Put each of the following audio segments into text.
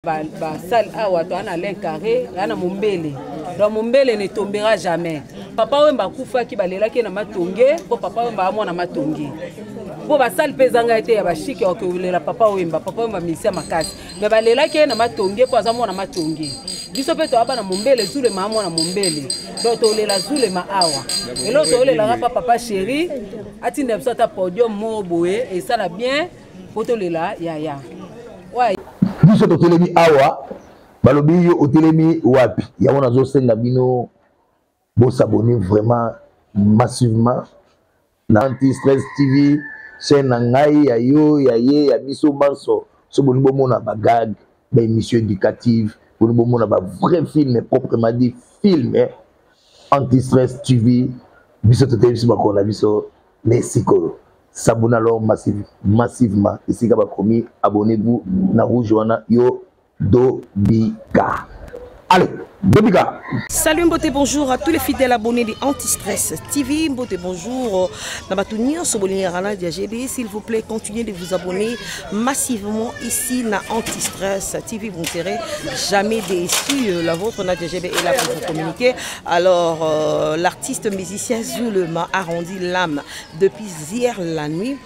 basale ba awa toa na lin carré ya na mombele donc mombele ne tombera jamais papa wemba akufaki balelaki ye na matonge mpo papa wemba amwana matonge mpo basale mpe ezanga ye te ya bashike okolela papa wemba papa wemba misia makasi me balelaki ye na matonge mpo aza mwana matonge biso mpe toyaba na mombele zulema amwana mombele donc tolela zulema awa eloo toolelaka mpa papa sheri atinda biso ata podium moko boye esala bien mpo tolela yaya biso totelemi awa balobi yo otelemi wapi yango nazosenga bino bosabone vraiment massivement na anti stress tv chaîne na ngai ya yo ya ye ya biso banso so bolingi bomona bagag baémission éducative bolingi bomona bavrai film proprement dit film anti stress tv biso toteyi biso bakolo na biso mais sikoyo sabuna lor massive, massivement esika bakomi abonnez-vous na rouge wana yo dobika allez Bobika. Salut Mbote, bonjour à tous les fidèles abonnés de Anti-Stress TV. Mbote, bonjour. Nabatounia Sobolini Rana Diagebe, s'il vous plaît, continuez de vous abonner massivement ici na Anti-Stress TV. Vous ne serez jamais déçus. La vôtre, Nadia Diagebe, est là pour vous communiquer. Alors, euh, l'artiste musicien Zulema arrondit l'âme depuis hier la nuit.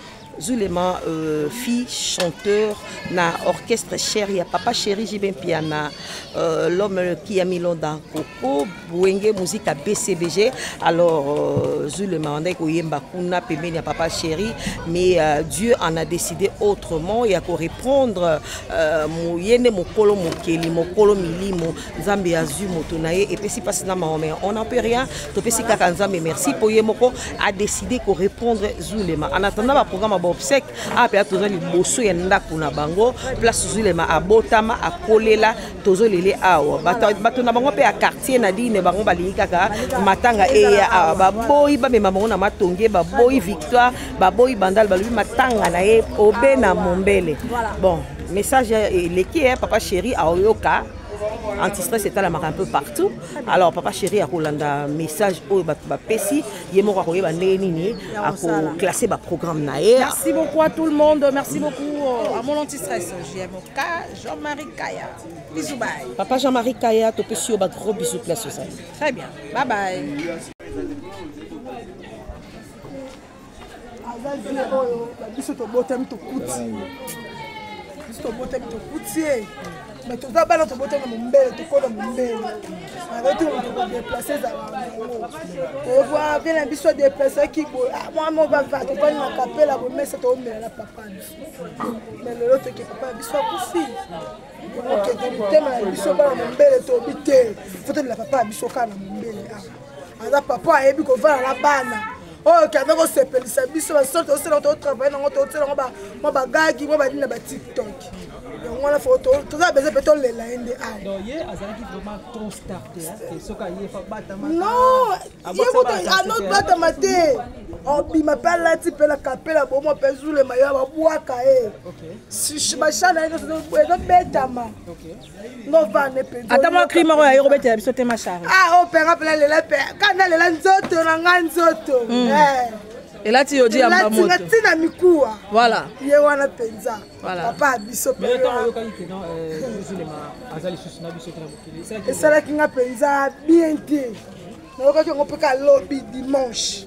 Zulema, euh, fille, chanteur, na orchestre chéri, ya papa chéri Jibin Piana, euh, l'homme qui a mis London Coco, Bouenge, musique à BCBG. Alors, euh, Zulema, on a koyemba kuna, pembeni ya papa chéri, mais euh, Dieu en a décidé autrement, il y a ko répondre, euh, moyene mokolo mokeli, mokolo milimo, nzambe azwi moto na ye epesi mpasi na mawa mais on en peut rien topesi kaka nzambe merci mpo ye moko adécide korépondre zulema en attendant baprogramme ya baobsèque awa ah, mpenza toza liboso ya ndako na bango place zulema abotama akolela tozolele awa bato na bango mpe ya quartier na dine bango balingi kaka matanga eya awa baboyi bamema bango na matonge baboyi victoire baboyi bandal balobi matanga na ye obe na mombele bon message eleki eh, papa chéri aoyoka antistress etalamaka un peu partout alors papa chéri akolanda message oyo bato bapesi ye moko akoyeba ndenge nini akoklasse baprogramme na ye merci beaucoup à tout le monde merci beaucoup euh, à mon antistress jmk jean-marie kaya bisou bye papa jean-marie kaya topesi yo bagros bisou place ozali très bien bye bye aza vie oyo biso tobotami tokuti biso tobotami tokuti ye mais toza bana tobotami na mombele tokola mombele abeti moto kodeplace ezala yango toyekoa vie na biso deplacaki boye ah, mwa mo bava tokani na kapela bomesa toomela na papa biso mais lelo toke papa na biso akufi okende mitema ya biso bana mombele tobi te fotolela papa ya biso kaka na mombele awa aza papa ayebi kovanda na bana oyo kende kosepelisa biso basolo tosala totravaille nango tosala yango mwa bagagi mwa banini na batiktok yango wana fo toza bese mpe tolela ye nde anon ye anotbatama te obima mpe alati mpe na kapela bomo mpe zulema yo babwaka ye bashana na ye nyonso ezobetama ngovane mpenza ata mwa cri moko ya ye kobetela biso te mashari ah o penga mpena lela mpe kanda lela nzoto na ngai nzoto hmm. eh. elati yo diambamoto ntina mikuwa voilà ye wana mpenza papa ya biso euh, esalaki nga mpenza bien te nayokaki yango mpe ka lobi dimanche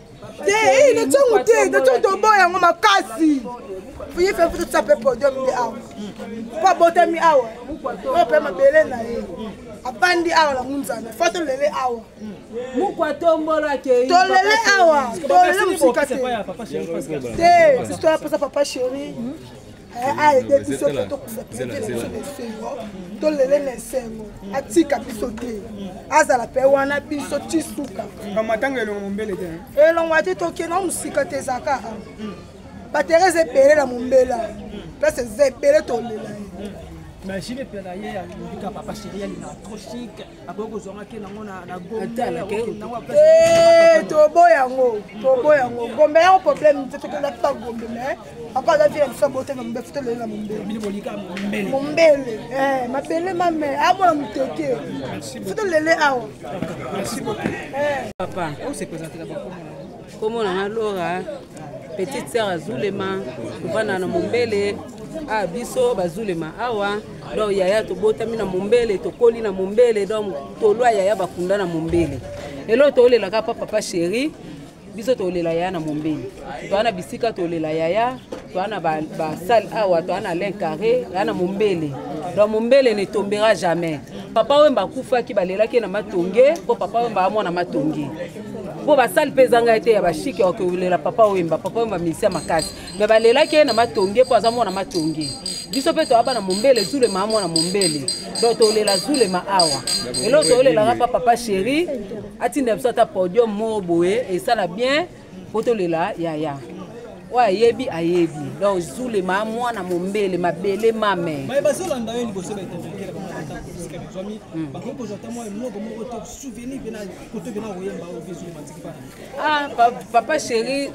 te eh, na ntango te na ntango toboya yango makasi ye fe futa tusa mpe podium nde awa mpo abotami awa oyo mpe mabele na ye abandi awa na munzana fo tolele awa tolele awa tolele mosika te te sisi toya mposa papa chéri ayede biso te tokunda biso na esengo tolele na esengo atika biso te azala mpe wana biso ti suka matanga elongo mombele te elongo ati tokenda mosika te ezaka batere eza ebele na mombela place eza ebele tolela ye machine epela ye alobika papa sheri alinga trop chic akoki kozwanga ke nango na gombe tobo yango tobo yango gombe yango problème te tokenda mpe gombe mais papa aza vie na biso abote na mombe futa lelo na mombele mombele eh, mabele mame amona ah, moteke futa lele awa eh. papa komona na lora petite sœur azulema kovanda na mombele ah, biso bazulema awa donc yaya tobotami na mombele tokoli na mombele donc tolwa yaya bakunda na mombele eloo tolelaka pa papa chéri biso tolela yaya na mombeli toa na bisika tolela yaya toa na basale awa toa na lin carré yaya na mombele donc mombele ne tombera jamais papa wemba akufaki balelaki ye na matonge mpo papa wemba amwana matonge mpo basale mpe ezanga ye te ya bashike okolela papa wemba papa wemba misia makasi me balelaki ye na matonge mpo aza mwana matonge biso mpe toyaba na mombele zulema amwana mombele donc tolela zulema awa eloko toolelaka mpa papa sheri atinda biso ata podium moko boye esala bien mpo tolela yaya oyo ayebi ayebi donc zulema mwana mombele mabele mame bazwami hmm. bakoki kozwa ata mwa eloko moko to souvenir mpe na koto mpe na koyemba oyo mpe zulema atiki bana ah, papa chéri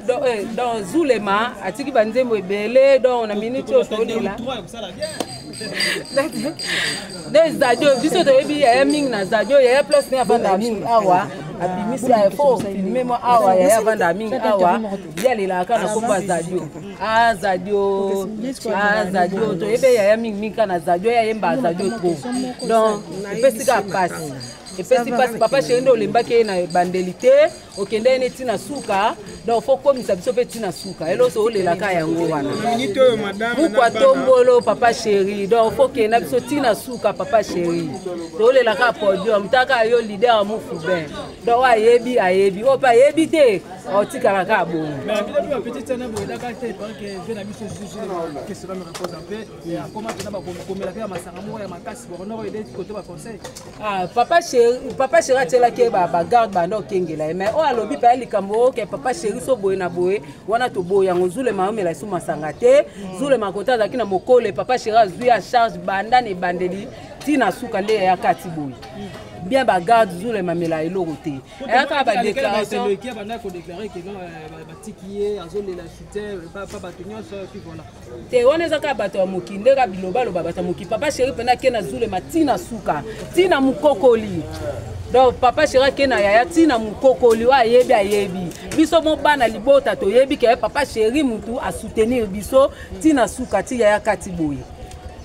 don eh, zulema atiki banzembo ebele don na minute oyo tolela nde zadio biso toyebi yaya mingi na zadio yaya place ne avandaka mingi awa abimisi ya fo filme mwa awa yaya avandaka mingi awa yalelaka kaka na kombo ya zadio a ah, zadio a ah, zadio toyebi yaya mingi mingi kaka na zadio yayemba zadio trop donc epesi kaka mpasi epesi mpasi papa sheri nde olembaki ye na ebandeli te okendeki neti na suka donc fo komisa biso mpe ti na suka eloso olelaka yango wana muku atombolo papa chéri donc fo kenda biso ti na suka papa chéri tolelaka podium taka yo lider ya mufubin donc ayebi ayebi oyo mpe ayebi te otikala kaka bongo Ah, papa chéri papa chéri atyelaki ye bagarde banda okengela ye mais oyo alobi paya likambo oyo ke papa chéri so boye na boye wana toboyi yango zulema ayomela esu masanga te mm. zulema kota azalaki na mokole papa chéri azwi ya charge banda na ebandeli ntina suka nde yaya kati boye mm. bien bagarde zulema amela eloko te ayaka badéclaration te wana eza kaka bato ya moki nde kaka bilobaloba bato ya moki papa sheri mpena ake na zulema ti na suka ti na mokokoli donc papa sheri ake na yaya ti na mokokoli oyo ayebi ayebi biso mo bana libota toyebi ke papa sheri motu asoutenir biso ti na suka ti yaya kati boye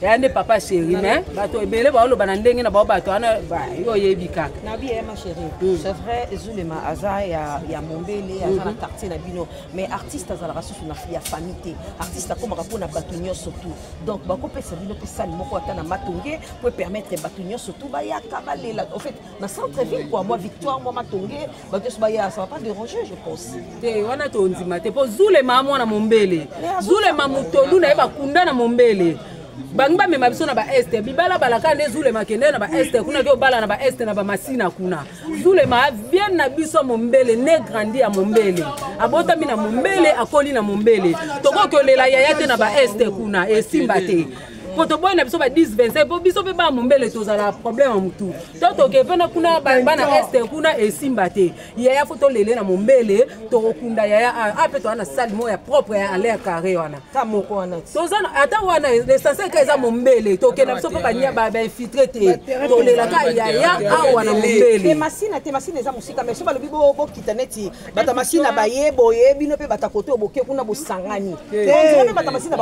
yaya nde papa sheri me bato ebele baoloba na ndenge na bao bato wana yo oyebi kaka nabi yaya ma sheri hmm. c'est vrai zulema aza ya mombele aza na hmm. quartier na bino mais artiste azalaka susu na ya famille te artiste akomaka mpo na bato nyonso tu donc bakopesa bino mpe sale moko ata na matonge mpo epermettre bato nyonso tu bayaka balela en fait na centre ville kua mwa victoire mwa matonge bato nyonso baya ça va pas déranger je pense te wana tondima te mpo zulema mwana mombele zulema motolu na ye bakunda na mombele bangi bamema biso na baeste bibalabalaka nde zulema kende na baeste kuna ke obala na baeste na bamasina kuna zulema avienne na biso ya mombele ne grandi ya mombele abotami na mombele akoli na mombele tokoki kolela yaya te na baeste kuna esimba te mpo toboyi na biso ba 10 25 mpo biso mpe bana mombele tozala problème ya motu to toke mpe na kuna bana este kuna esimba te yaya fo tolele na mombele tokokunda yaya ape toza na sale moko ya propre ya alain carré wana ta moko wana toza ata wana l'essentiel ka eza mombele tokenda biso mpo bania bainfiltre te tolela ka yaya awa na mombele masina te masina eza mosika mais so balobi bokita neti bata masina baye boye bino mpe bata kote oyo boke kuna bosangani mpe bata masina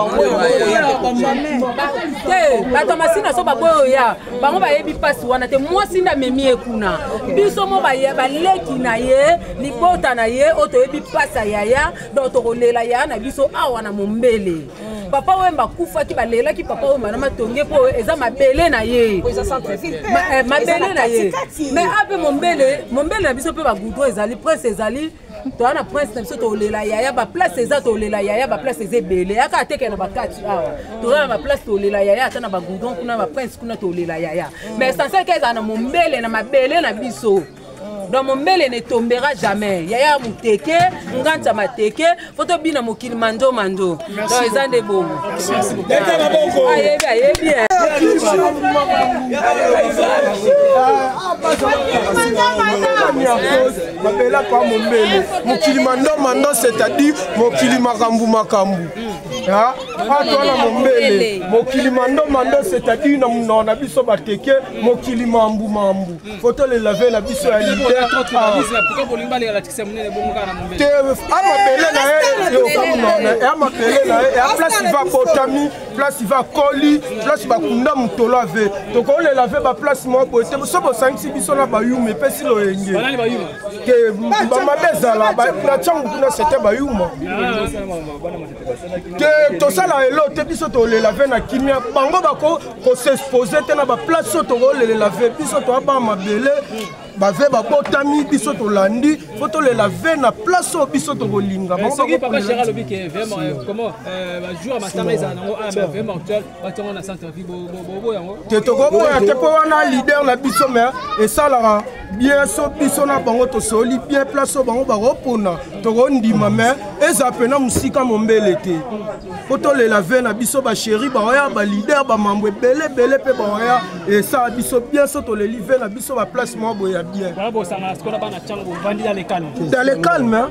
te bata masina so baboya oya bango bayebi mpasi wana te mwasi nde amemi ye kuna biso mo baleki na ye libota na ye oyo toyebi mpasi ya yaya donc tokolela yaya na biso awa na mombele mm. papa oyo bakufaki balelaki papa oyo mana matonge mpo eza mabele na ye eh, mabele na ye mais ape mombele mombele na biso mpe bagoudron ezali prince ezali toza na prince na biso tolela yaya baplace eza tolela yaya baplace eza ebele yaka ateke na bakati awa toza na baplace tolela yaya ata na bagoudron kuna baprince kuna tolela yaya mais sanselka ezala na mombele na mabele na biso donc mombele ne tombera jamais yaya moteke nganza mateke fo tobina mokili mando mando donc eza nde bongo ayebi ayebi mabela kwa mombele mokili mando mando c'est-à-dire mokili makambo makambo atwa na mombele mokili mando mando c'est-à-dire na monoko na biso bateke mokili mambu mambu foto le lave na biso ya leader amabele na ye okamona amabele na ye ya place iva botami place iva koli place bakunda motolo ave tokolela ave baplace moko boye te so bosangisi biso na bayuma epesi loyenge te bamabe ezala na ntango kuna sete bayuma te tosala elo te biso tolela ve na kimia bango bako kosexpose te na baplace oyo tokolelela ve biso toaba mabele bave babotami biso tolandi po tolela ve na place oyo biso tokolinga eh, te tokoboya te mpo wana lider na biso me esalaka bien so biso na bango tosoli bien place oyo bango bakopona tokondima me eza mpena mosika mombele te mpo tolela ve na biso basheri baoya balider bamambo ebele ebele mpe baoya esala biso bien so toleli ve na biso baplace moko boye ya bien dans le calme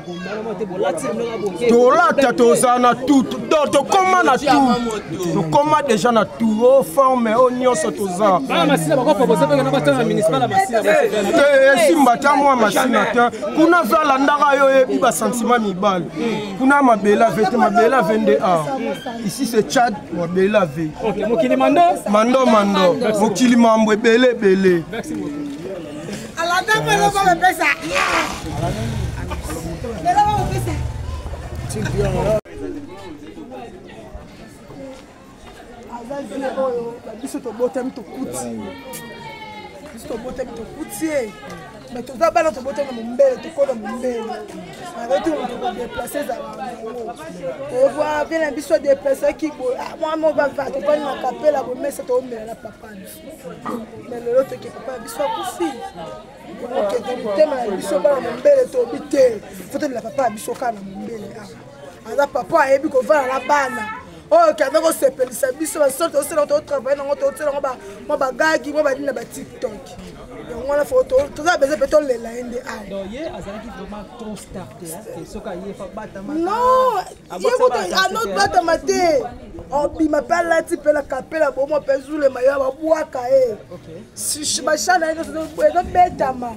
tolata toza na tout do tokoma na tout tokoma deja na tout o oh, forme oyo oh, nyonso toza esimba ta mwa masina te kuna ve alandaka yo oyebi basantima mibale kuna mabele ave te mabele ave nde a ici se chad mabele ave mando mando mokili mambo ebele ebele alandaka eloko bapesa eloko bapesa aza vie oyo biso tobotami tokuti biso tobotami tokuti ye mais toza bana tobota na mombele tokola mombele nakoki kodeplace ezala nango ovwa mpe na biso adeplaceaki boye mwa moko bava tokani na kapela bomesa toomela na papana na lelo toke papa ya biso akufi okende motema ya biso bana mombele tobi te fotolela papa ya biso kaka na mombele awa ah. aza papa ayebi kovanda na bana oyo kende kosepelisa biso basolo tosala totravaille nango tosala yango mwa bagagi mwa badini na batiktok yango wana fo toza beze mpe tolela ye nde aye anotbatama te obima mpe alati mpe na kapela bomo mpe zulema yo babwaka ye basha na ye ezobetama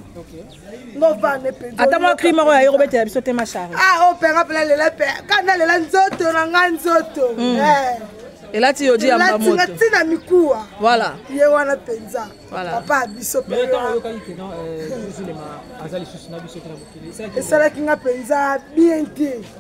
ngovane mpenzaata mwa kri moko ya ye kobetela biso te mashar ah o oh, mpenga mpela lela mpe kana lela nzoto na ngai nzoto hmm. eh. elati yo diambamoto ntina mikuwa voilà ye wana mpenza papa biso euh, esalaki nga mpenza bien te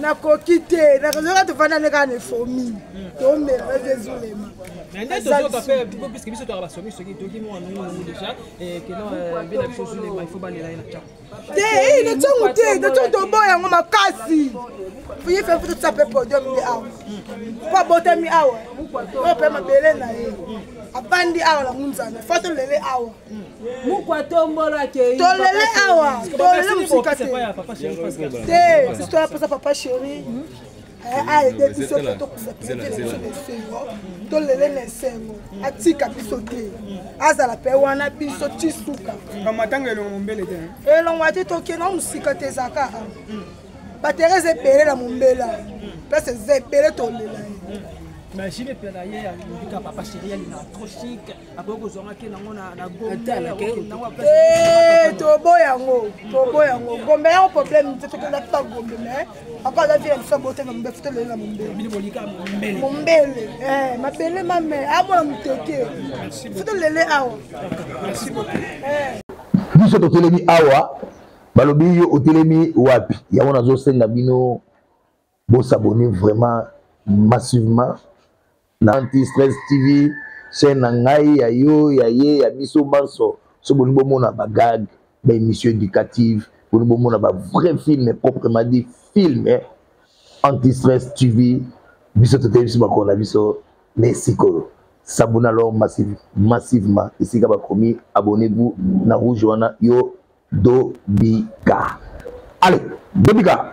nakoki te nakozoka tofanda nde kaka na efomi tomela nazo ezulema puiske biso toyaka basomi soki toki mwa nungu déjà kena bina biso ezulema ifo balela ye na ntango te na ntango te na ntango toboya yango makasi ye fe futu tisa mpe podium nde awa mpo abotami awa oyo mpe mabele na ye abandi awa na ngunzana fo tolele awa mukwatombolo akei tolele awa tolele mosika te te toya mposa papa chéri ayede biso te tokufa biso na esengo tolele na esengo atika biso te azala mpe wana biso ti suka matanga elongo mombele te elongo ate tokenda mosika te ezaka batere eza ebele na mombela place eza ebele tolela ye machine epela ye ya lobika papa chéri ya lina trop chic akoki kozwa nga ke nango na gombetobo yango tobo yango gombe yango problème te tokolakita gombe mais ako aza vie ya biso bote na mombe futa lelo na mombele mombele eh, mabele mame amona moteke futa lele awa eh. biso totelemi awa balobi yo otelemi wapi yango nazosenga bino Bo s'abonner vraiment massivement na Anti Stress TV chaîne na ngai ya yo ya ye ya biso banso so boni bomona ba gag ba émission éducative boni bomona ba vrai film proprement dit film eh? Anti Stress TV biso toteyi biso makolo na biso na esikoyo sabona alors massive, massivement esika bakomi abonnez-vous na rouge wana yo dobika allez dobika